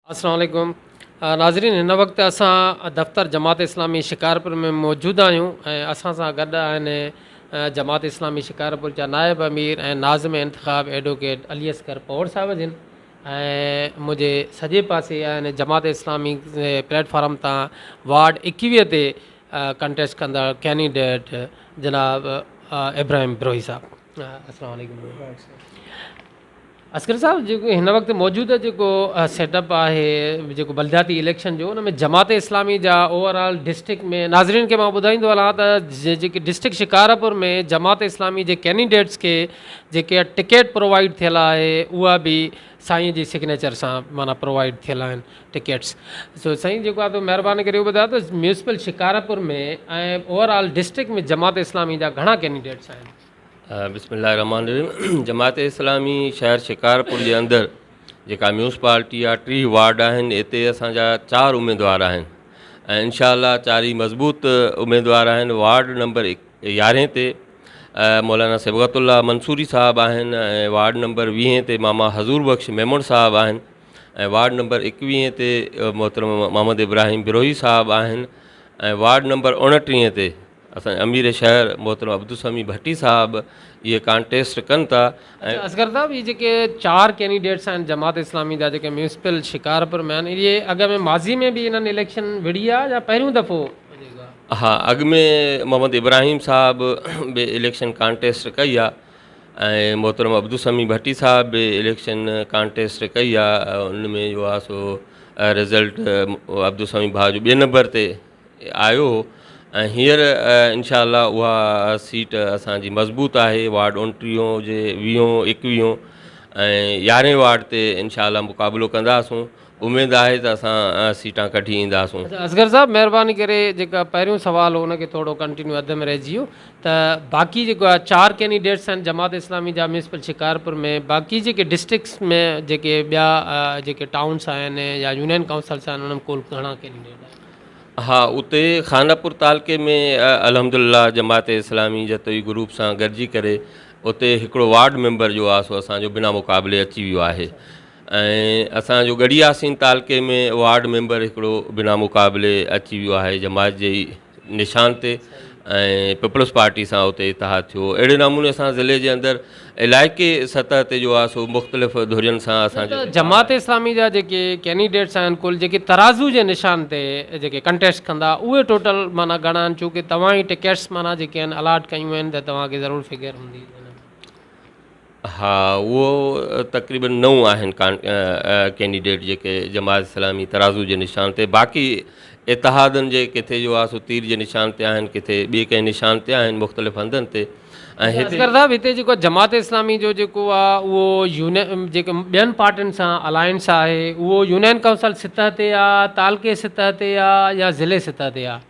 السلام عليڪم ناظرين هن وقت اسان دفتر جماعت اسلامي شڪارپور ۾ موجود آهيون ۽ اسان سان گڏ آهن جماعت اسلامي شڪارپور جا نائب امير ۽ ناظم انتخاب ايڊووڪيٽ علي اصغر پوڙ صاحب جن ۽ منهنجي سڄي پاسي آهن جماعت اسلامي پليٽ فارم تان وارڊ ايڪويهه تي ڪنٽيسٽ ڪندڙ ڪينيڊيٽ جناب ابراهيم بروهي صاحب السلام عليڪم اصغر صاحب جيڪو هن وقت موجوده جيڪو سيٽ اپ آهي جيڪو بلدياتي اليڪشن جو ان ۾ جماعت اسلامي جا اوور آل ڊسٽرڪٽ ۾ ناظرين کي مان ٻڌائيندو هلان ته جيڪي ڊسٽرڪٽ شڪارپور ۾ جماعت اسلامي جي ڪينيڊيٽس کي جيڪي ٽڪيٽ پرووائيڊ ٿيل آهي اها به سائين جي سگنيچر سان معنيٰ پرووائيڊ ٿيل آهن ٽڪيٽس سو سائين جيڪو آهي مهرباني ڪري اهو ٻڌايو ته municipal Shikarpur ۾ ۽ over all district ۾ Jamaat Islami جا گهڻا ڪينڊيڊيٽس آهن بسم الله الرحمٰن الرحيم جماعت اسلامي شهر شڪارپور جي اندر جيڪا ميونسپالٽي آهي ٽيهه وارڊ آهن اتي اسانجا چار اميدوار آهن ۽ انشاء الله چاري مضبوط اميدوار آهن وارڊ نمبر يارهين تي مولانا صبغت الله منصوري صاحب آهن ۽ وارڊ نمبر ويهين تي ماما حضور بخش ميمڻ صاحب آهن ۽ وارڊ نمبر ايڪويهه تي محترم محمد ابراهيم بروهي صاحب آهن ۽ وارڊ نمبر اوڻٽيهه تي اسان امير شهر محترم عبدالسميع ڀٽي صاحب اهي ڪانٽيسٽ ڪن ٿا اڇا اصغر صاحب هي جيڪي چار ڪينڊيڊيٽس آهن جماعت اسلامي جا جيڪي ميونسپل شڪارپور ۾ آهن اهي اڳ ۾ ماضي ۾ به انهن اليڪشن وڙهي آ يا پهريون دفعو ها اڳ ۾ محمد ابراهيم صاحب به اليڪشن ڪانٽيسٽ ڪئي آ ۽ محترم عبدالسميع ڀٽي صاحب به اليڪشن ڪانٽيسٽ ڪئي آ ان ۾ جو آ سو رزلٽ عبدالسميع ڀاء جو ٻئي نمبر تي آيو هو ۽ هينئر انشاء الله اها سيٽ اسانجي مضبوط آهي وارڊ اڻٽيهون هجي ويهون ايڪويهون ۽ يارهين وارڊ تي انشاء الله مقابلو ڪنداسون اميد آهي ته اسان سيٽان ڪڍي اينداسون. اچا اصغر صاحب مهرباني ڪري جيڪا پهريون سوال هو ان کي ٿورو ڪنٽينيو اڌ ۾ رهجي ويو ته باقي جيڪو آهي چار ڪينڊيڊيٽس آهن جماعت اسلامي جا ميونسپل شڪارپور ۾ باقي جيڪي ڊسٽرڪٽس ۾ جيڪي ٻيا جيڪي ٽائونس آهن يا يونين ڪائونسلس آهن انهن ۾ ڪل گهڻا ڪينڊيڊيٽ آهن. ها اتي خانپور تعلقي ۾ الحمدلله جماعت اسلامي جتوئي گروپ سان گڏجي ڪري اتي هڪڙو وارڊ ميمبر جو آ سو اسان جو بنا مقابلي اچي ويو آهي ۽ اسان جو ڳڙهي ياسين تعلقي ۾ وارڊ ميمبر هڪڙو بنا مقابلي اچي ويو آهي جماعت جي ئي نشان تي ۽ پيپلز پارٽي سان اتي اتحاد ٿيو اهڙي نموني سان ضلعي جي اندر علائقي سطح تي جو آهي سو مختلف ڌرين سان اسان جو جماعت اسلامي جا جيڪي ڪينڊيڊيٽس آهن ڪل جيڪي ترازو جي نشان تي جيڪي ڪنٽيسٽ ڪندا اهي ٽوٽل معنيٰ گهڻا آهن چونڪه توهان ئي ٽڪيٽس معنيٰ جيڪي آهن الاٽ ڪيون آهن ته توهان کي ضرور فگر هوندي ها اهو تقريبن نو آهن ڪينڊيڊيٽ جيڪي جماعت اسلامي ترازو جي نشان تي باقي اتحادن جي ڪٿي جو آهي سو تير جي نشان تي آهن ڪٿي ٻي ڪنهن نشان تي آهن مختلف هنڌن تي هتي جيڪو جماعت اسلامي جو جيڪو آهي اهو يونين جيڪي ٻين پارٽين سان الائنس آهي اهو يونين ڪائونسل سطح تي آهي تعلقي سطح تي آهي يا ضلعي سطح تي آهي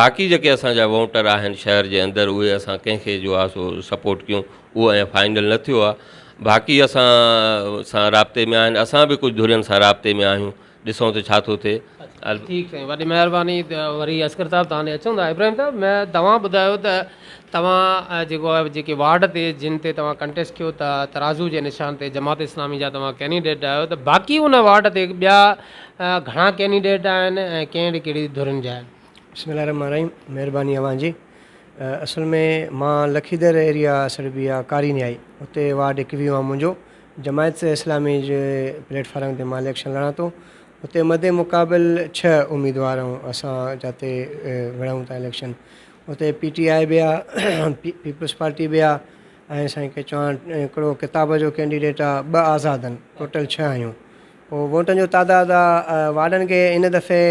باقي جيڪي اسان جا ووٽر آهن شهر جي اندر اهي اسان ڪنهن کي جو آهي سو سپورٽ ڪيون اهو اڃان فائنل نه ٿيو آهي باقي اسان سان رابطي ۾ آهن اسان به ڪجهه ڌرين سان رابطي ۾ آهيون ڏسون ته ڇا ٿو ٿئي ٺيڪ سائين وڏي مهرباني وري اسڪر صاحب تان ڏي اچون ٿا ابراهيم صاحب ۾ توهان ٻڌايو ته توهان جيڪو آهي جيڪي وارڊ تي جن تي توهان ڪنٽيسٽ ڪيو ته ترازو جي نشان تي جماعت اسلامي جا توهان ڪينڊيڊيٽ آهيو ته باقي ان وارڊ تي ٻيا گهڻا ڪينڊيڊيٽ آهن ۽ ڪهڙي ڪهڙي ڌرين جا آهن. بسم الله الرحمٰن الرحيم مهرباني اوهان جي اصل ۾ مان لکيدر ايريا سربي آ ڪاري نهائي اتي وارڊ ايڪويهون آ منهنجو جماعت اسلامي جي پليٽ فارم تي مان اليڪشن لڙان ٿو اتي مد مقابل ڇهه اميدوار آهون اسان جاتي وڙهون ٿا اليڪشن اتي پي ٽي آئي به آ پيپلز پارٽي به آ ۽ سائين ڪي چوهاڻ هڪڙو ڪتاب جو ڪينڊيڊيٽ آ ٻه آزاد ان ٽوٽل ڇهه آهيون ووٽن جو تعداد وارڊن کي هن دفعي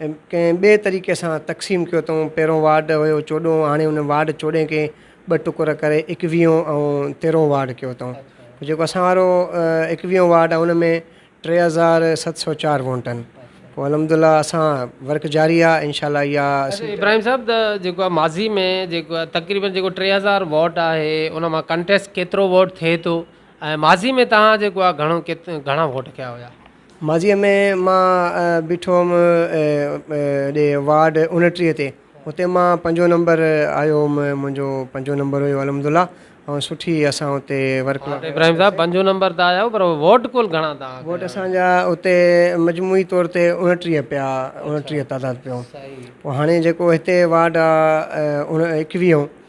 ڪنهن ٻئي طريقي سان تقسيم ڪيو اٿئون. پهريون وارڊ هيو چوڏهون هاڻي ان وارڊ چوڏهين کي ٻه ٽڪر ڪري ايڪويهون ۽ تيرهون وارڊ ڪيو اٿئون. جيڪو اسان وارو ايڪويهون وارڊ آهي ان ۾ ٽي هزار ست سؤ چار وونٽن پوء الحمد الله اسان ورڪ جاري آهي انشاء الله اها اچا ابراهيم صاحب ته جيڪو آهي ماضي ۾ جيڪو آهي تقريبن جيڪو ٽي هزار ووٽ آهي ان مان ڪنٽيسٽ ڪيترو ووٽ ٿئي ٿو ۽ ماضي ۾ توهان جيڪو آ گهڻو گهڻا ووٽ ڪيا هيا. ماضيء ۾ مان بيٺو هوم هيڏي وارڊ اڻٽيهه تي اتي مان پنجون نمبر آيو هوم منهنجو پنجون نمبر هيو الحمد الله ۽ سٺي اسان اتي ورڪ مان ابراهيم صاحب پنجون نمبر ته آيا هو پر ووٽ ڪل گهڻا توهان ڪيا ووٽ اسان جا اتي مجموعي طور تي اڻٽيهه پيا اڻٽيهه تعداد پيو پوء هاڻي جيڪو هتي وارڊ آ اڻ ايڪويهون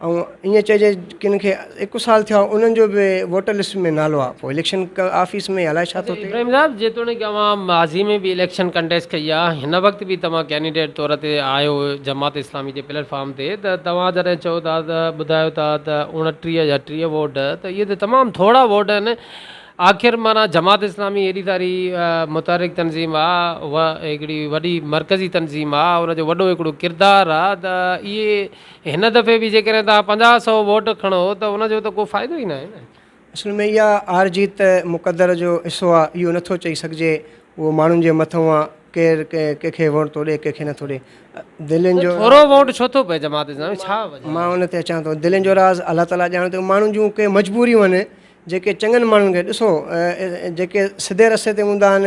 ائون ائين چئجي ڪن کي هڪ سال ٿيا انهن جو به ووٽر لسٽ ۾ نالو آ پوء اليڪشن آفيس ۾ الائي ڇا ٿو ٿئي. ابراهيم صاحب جيتوڻيڪ اوهان ماضي ۾ به اليڪشن ڪنٽيسٽ ڪئي آ هن وقت به توهان ڪينڊيڊيٽ طور تي آهيو جماعت اسلامي جي پليٽ فارم تي ته توهان جڏهن چئو ٿا ته ٻڌايو ٿا ته اوڻٽيهه يا ٽيهه ووٽ ته اهي ته تمام ٿورا ووٽ آهن آخر معنيٰ جماعت اسلامي هيڏي ساري متحرڪ تنظيم آ هڪڙي وڏي مرڪزي تنظيم آ ان جو وڏو هڪڙو ڪردار آ ته اهي هن دفعي به جيڪڏهن توهان پنجاهه سؤ ووٽ کڻو ته ان جو ته ڪو فائدو ئي ناهي نه. اصل ۾ اها هار جيت مقدر جو حصو آهي اهو نٿو چئي سگهجي اهو ماڻهن جي مٿئون آهي ڪير ڪنهن کي ووٽ ٿو ڏي ڪنهن کي نٿو ڏي دلين جو ٿورو ووٽ ڇو ٿو پئي جماعت اسلامي ڇا وجه آهي؟ مان ان تي اچان ٿو دلين جو راز الله تعاليٰ ڄاڻي ٿو ماڻهن جون ڪي مجبوريون آهن جيڪي چڱن ماڻهن کي ڏسو جيڪي سڌي رستي تي هوندا آهن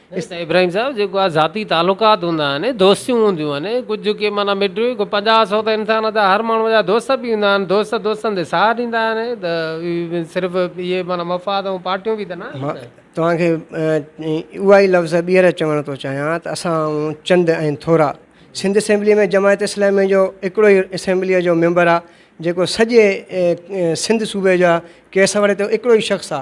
اسان ابراهيم صاحب جيڪو آ ذاتي تعلقات هوندا آهن دوستيون هونديون آهن ڪجھ جيڪي معنيٰ مٽ پنجاهه سؤ ته انسان جا هر ماڻهو جا دوست به هوندا آهن دوست دوستن تي ساهه ڏيندا آهن ته صرف اهي معنيٰ مفاد ۽ پارٽيون به ته نه آهن نه توهان کي اها ئي لفظ ٻيهر چوڻ ٿو چاهيان ته اسان آهيون چند ۽ ٿورا سنڌ اسيمبليء ۾ جماعت اسلامي جو هڪڙو ئي اسيمبليء جو ميمبر آ جيڪو سڄي سنڌ صوبي جا ڪيس وڙهي ٿو هڪڙو ئي شخص آ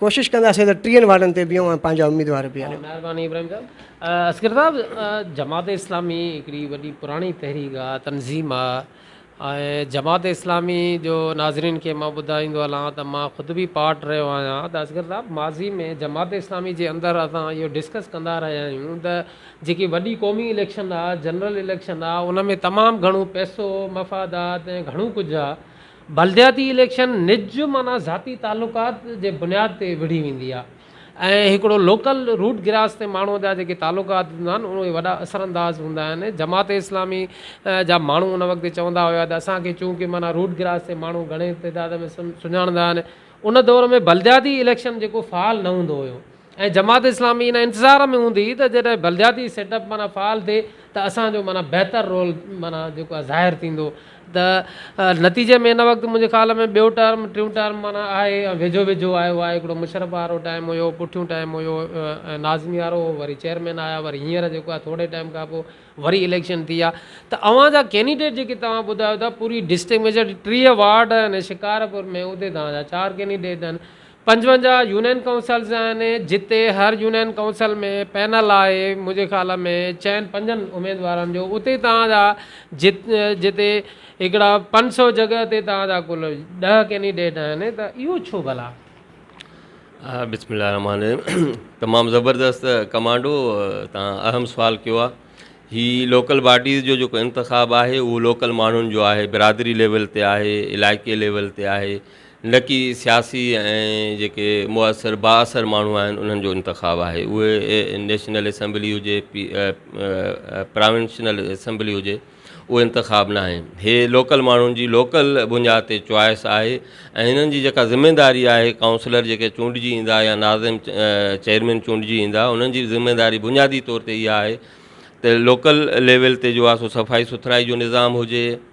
ڪوشش ڪنداسين ته ٽيهن وارڊن تي بيهون ۽ پنهنجا اميدوار بيهاريون. مهرباني ابراهيم صاحب. اصغر صاحب جماعت اسلامي هڪڙي وڏي پراڻي تحريڪ آ تنظيم آ ۽ جماعت اسلامي جو ناظرين کي مان ٻڌائيندو هلان ته مان خود به پارٽ رهيو آهيان ته اصغر صاحب ماضي ۾ جماعت اسلامي جي اندر اسان اهو ڊسڪس ڪندا رهيا آهيون ته جيڪي وڏي قومي اليڪشن آ جنرل اليڪشن آ ان ۾ تمام گهڻو پئسو مفادات ۽ گهڻو ڪجهه آ بلدياتي اليڪشن نج معنيٰ ذاتي تعلقات جي بنياد تي وڙهي ويندي آهي ۽ هڪڙو لوڪل روٽ گراس تي ماڻهو جا جيڪي تعلقات هوندا آهن اهي وڏا اثر انداز هوندا آهن جماعت اسلامي جا ماڻهو ان وقت چوندا هيا ته اسان کي چون ڪي معنيٰ روٽ گراس تي ماڻهو گهڻي تعداد ۾ سڃاڻندا آهن ان دور ۾ بلدياتي اليڪشن جيڪو فعال نه هوندو هيو ۽ جماعت اسلامي ان انتظار ۾ هوندي ته جڏهن بلدياتي سيٽ اپ معنيٰ فعال ٿئي ته اسان جو معنيٰ بهتر رول معنيٰ جيڪو آهي ظاهر ٿيندو ته نتيجي ۾ هن وقت منهنجي خيال ۾ ٻيو ٽرم ٽيون ٽرم معنيٰ آهي ۽ ويجهو ويجهو آيو آهي هڪڙو مشرف وارو ٽائيم هيو پٺيون ٽائيم هيو ۽ ناظمي وارو هو وري چيئرمين آيا وري هينئر جيڪو آهي ٿوري ٽائيم کان پوء وري اليڪشن ٿي آ ته اوهان جا ڪينڊيڊيٽ جيڪي توهان ٻڌايو ٿا پوري ڊسٽرڪٽ ۾ جهڙي ٽيهه وارڊ آهن شڪارپور ۾ اتي توهان جا چار ڪينڊيڊيٽ آهن پنجونجاهه يونين ڪائونسلز آهن جتي هر يونين ڪائونسل ۾ پينل آهي منهنجي خيال ۾ چئن پنجن اميدوارن جو اتي توهان جا جتي هڪڙا پنج سو جڳهه تي توهان جا ڪل ڏهه ڪينڊيڊيٽ آهن ته اهو ڇو ڀلا؟ بسم الله الرحمٰن الرحيم تمام زبردست ڪمانڊو تان اهم سوال ڪيو آ هي لوڪل باڊيز جو جيڪو انتخاب آهي اهو لوڪل ماڻهن جو آهي برادري ليول تي آهي علائقي ليول تي آهي نڪي سياسي ۽ جيڪي موثر بااثر ماڻهو آهن انهن جو انتخاب آهي اهي نيشنل اسيمبلي هجي پراونشنل اسيمبلي هجي اهو انتخاب ناهي هي لوڪل ماڻهن جي لوڪل بنياد تي چوائس آهي ۽ هنن جي جيڪا ذميداري آهي ڪائونسلر جيڪي چونڊجي ايندا يا ناظم چيئرمين چونڊجي ايندا انهن جي ذميداري بنيادي طور تي اها آهي ته لوڪل ليول تي جو آهي سو صفائي سٿرائي جو نظام هجي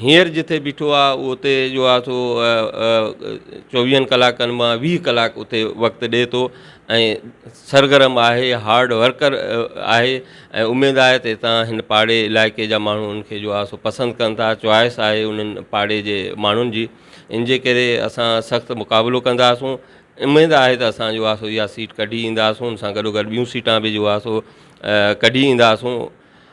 هينئر جتي بيٺو آ اهو اتي جو آ سو چوويهن ڪلاڪن مان ويهه ڪلاڪ اتي وقت ڏئي ٿو ۽ سرگرم آهي هارڊ ورڪر آهي ۽ اميد آهي ته هتان هن پاڙي علائقي جا ماڻهو ان کي جو آ سو پسند ڪن ٿا چوائس آهي انهن پاڙي جي ماڻهن جي ان جي ڪري اسان سخت مقابلو ڪنداسون اميد آهي ته اسان جو آ سو اها سيٽ ڪڍي اينداسون ان سان گڏو گڏ ٻيون سيٽان به جو آ سو ڪڍي اينداسون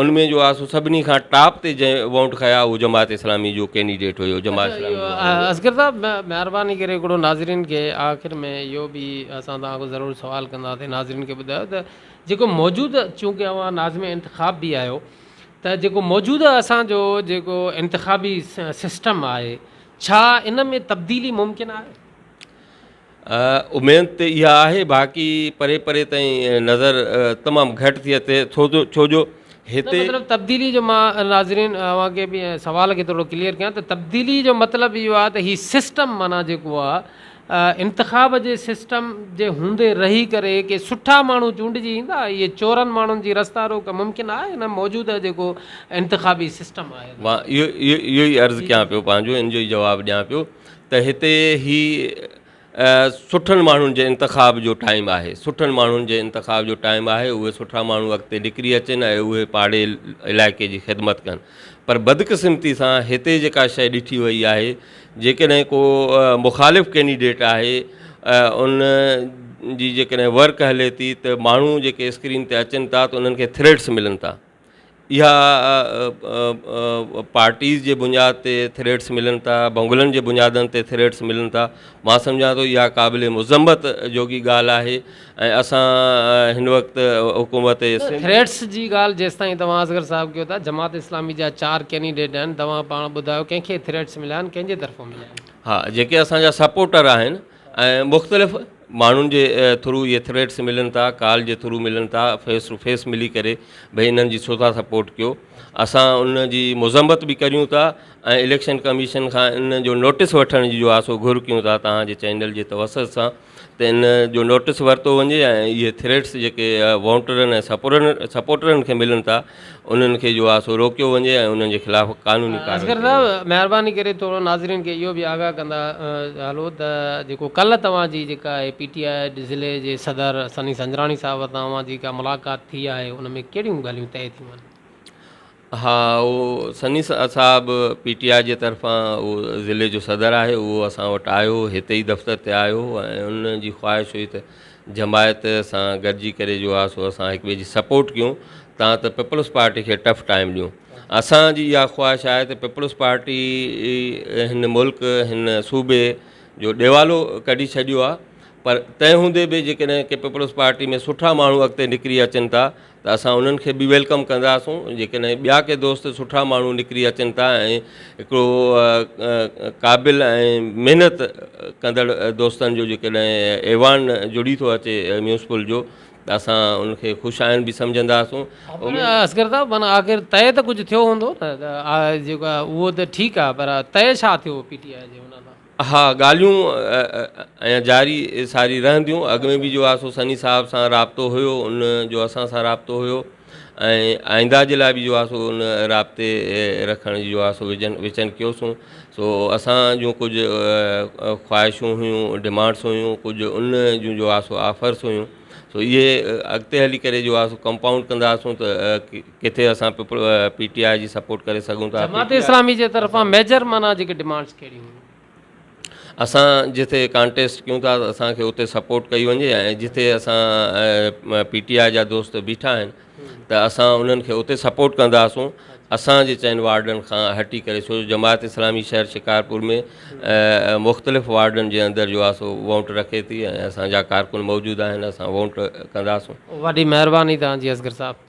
ان ۾ جو آسو سڀني کان ٽاپ تي جنهن ووٽ کنيا اهو جماعت اسلامي جو ڪينڊيڊيٽ هيو جماعت اسلامي جو اهو هيو. اصغر صاحب مهرباني ڪري هڪڙو ناظرين کي آخر ۾ اهو به اسان توهان کان ضرور سوال ڪنداسين ناظرين کي ٻڌايو ته جيڪو موجود چونڪه اوهان ناظم انتخاب به آهيو ته جيڪو موجوده اسان جو جيڪو انتخابي سسٽم آهي ڇا ان ۾ تبديلي ممڪن آهي؟ اميد ته اها آهي باقي پري پري تائين نظر تمام گهٽ ٿي اچي ڇو جو هتي مطلب تبديلي جو مان ناظرين اوهان کي به سوال کي ٿورو ڪليئر ڪيان ته تبديلي جو مطلب اهو آهي ته هي سسٽم معنيٰ جيڪو آهي انتخاب جي سسٽم جي هوندي رهي ڪري ڪي سٺا ماڻهو چونڊجي ايندا اهي چورن ماڻهن جي رستا روڪ ممڪن آهي هن موجوده جيڪو انتخابي سسٽم آهي مان اهو اهو اهو ئي عرض ڪيان پيو پنهنجو ان جو ئي جواب ڏيان پيو ته هتي هي سٺن ماڻهن جي انتخاب جو ٽائيم آهي سٺن ماڻهن جي انتخاب جو ٽائيم آهي اهي سٺا ماڻهو اڳتي نڪري اچن ۽ اهي پاڙي علائقي جي خدمت ڪن پر بدقسمتي سان هتي جيڪا شيء ڏٺي وئي آهي جيڪڏهن ڪو مخالف ڪينڊيڊيٽ آهي ان جي جيڪڏهن ورڪ هلي ٿي ته ماڻهو جيڪي اسڪرين تي اچن ٿا ته انهن کي ٿريٽس ملن ٿا اها پارٽيز جي بنياد تي ٿريڊس ملن ٿا ڀونگلن جي بنيادن تي ٿريڊس ملن ٿا مان سمجهان ٿو اها قابل مذمت جوڳي ڳالهه آهي ۽ اسان هن وقت حڪومت سنڌ ٿريڊس جي ڳالهه جيستائين توهان اصغر صاحب ڪيو ٿا جماعت اسلامي جا چار ڪينڊيڊيٽ آهن توهان پاڻ ٻڌايو ڪنهن کي ٿريڊس مليا آهن ڪنهن جي طرفان مليا آهن. ها جيڪي اسان جا سپورٽر آهن ۽ مختلف ماڻهن جي ٿرو اهي ٿريڊس ملن ٿا ڪال جي ٿرو ملن ٿا فيس ٽو فيس ملي ڪري ڀئي انهن جي ڇو ٿا سپورٽ ڪيو اسان ان جي مذمت به ڪريون ٿا ۽ اليڪشن ڪميشن کان ان جو نوٽس وٺڻ جي جو آهي سو گهر ڪيون ٿا توهان جي چينل جي توسط سان ته ان جو نوٽس ورتو وڃي ۽ اهي ٿريڊس جيڪي وونٽرن ۽ سپورن سپورٽرن کي ملن ٿا انهن کي جو آهي سو روڪيو وڃي ۽ انهن جي خلاف قانوني ڪارروائي اصغر صاحب مهرباني ڪري ٿورو ناظرين کي اهو به آگاهه ڪندا هلو ته جيڪو ڪلهه توهان جي جيڪا آهي پي ٽي آء ضلعي جي صدر سني سنجراڻي صاحب سان اوهان جي جيڪا ملاقات ٿي آهي ان ۾ ڪهڙيون ڳالهيون طئي ٿيون آهن ها اهو سني صاحب پي ٽي آء جي طرفان اهو ضلعي جو صدر آهي اهو اسان وٽ آيو هتي ئي دفتر تي آيو ۽ ان جي خواهش هئي ته جماعت سان گڏجي ڪري جو آ سو اسان هڪ ٻئي جي سپورٽ ڪيون تان ته پيپلز پارٽي کي ٽف ٽائيم ڏيون اسان جي اها خواهش آهي ته پيپلز پارٽي هن ملڪ هن صوبي جو ڏيوالو ڪڍي ڇڏيو آهي پر تنهن هوندي به جيڪڏهن ڪي پيپلز پارٽي ۾ سٺا ماڻهو اڳتي نڪري اچن ٿا ته اسان انهن کي به ويلڪم ڪنداسون جيڪڏهن ٻيا ڪي دوست سٺا ماڻهو نڪري اچن ٿا ۽ هڪڙو قابل ۽ محنت ڪندڙ دوستن جو جيڪڏهن ايوان جڙي ٿو اچي ميونسپل جو ته اسان ان کي خوش آئند به سمجهنداسون. اصغر صاحب معنيٰ آخر طئي ته ڪجهه ٿيو هوندو نه جيڪو اهو ته ٺيڪ آهي پر طئي ڇا ٿيو پي ٽي آء جي ان سان؟ اها ڳالهيون اڃا جاري ساري رهنديون اڳ ۾ به جو آسو سني صاحب سان رابطو هيو ان جو اسان سان رابطو هيو ۽ آئنده جي لاء به جو آسو ان رابطي رکڻ جي جو آسو وجن وچن ڪيوسون سو اسان جون ڪجهه خواهشون هيون ڊمانڊس هيون ڪجهه ان جون جو آسو آفرس هيون سو اهي اڳتي هلي ڪري جو آسو ڪمپائونڊ ڪنداسون ته ڪٿي اسان پي ٽي آء جي سپورٽ ڪري سگهون ٿا. جماعت اسلامي جي طرفان ميجر معنيٰ جيڪي ڊمانڊس ڪهڙي هيون. اسان جتي ڪانٽيسٽ ڪيون ٿا ته اسان کي اتي سپورٽ ڪئي وڃي ۽ جتي اسان پي ٽي آء جا دوست بيٺا آهن ته اسان انهن کي اتي سپورٽ ڪنداسون اسان جي چئن وارڊن کان هٽي ڪري ڇو جو جماعت اسلامي شهر شڪارپور ۾ مختلف وارڊن جي اندر جو آهي سو وونٽ رکي ٿي ۽ اسان جا ڪارڪن موجود آهن اسان وونٽ ڪنداسون. وڏي مهرباني توهان جي اصغر صاحب.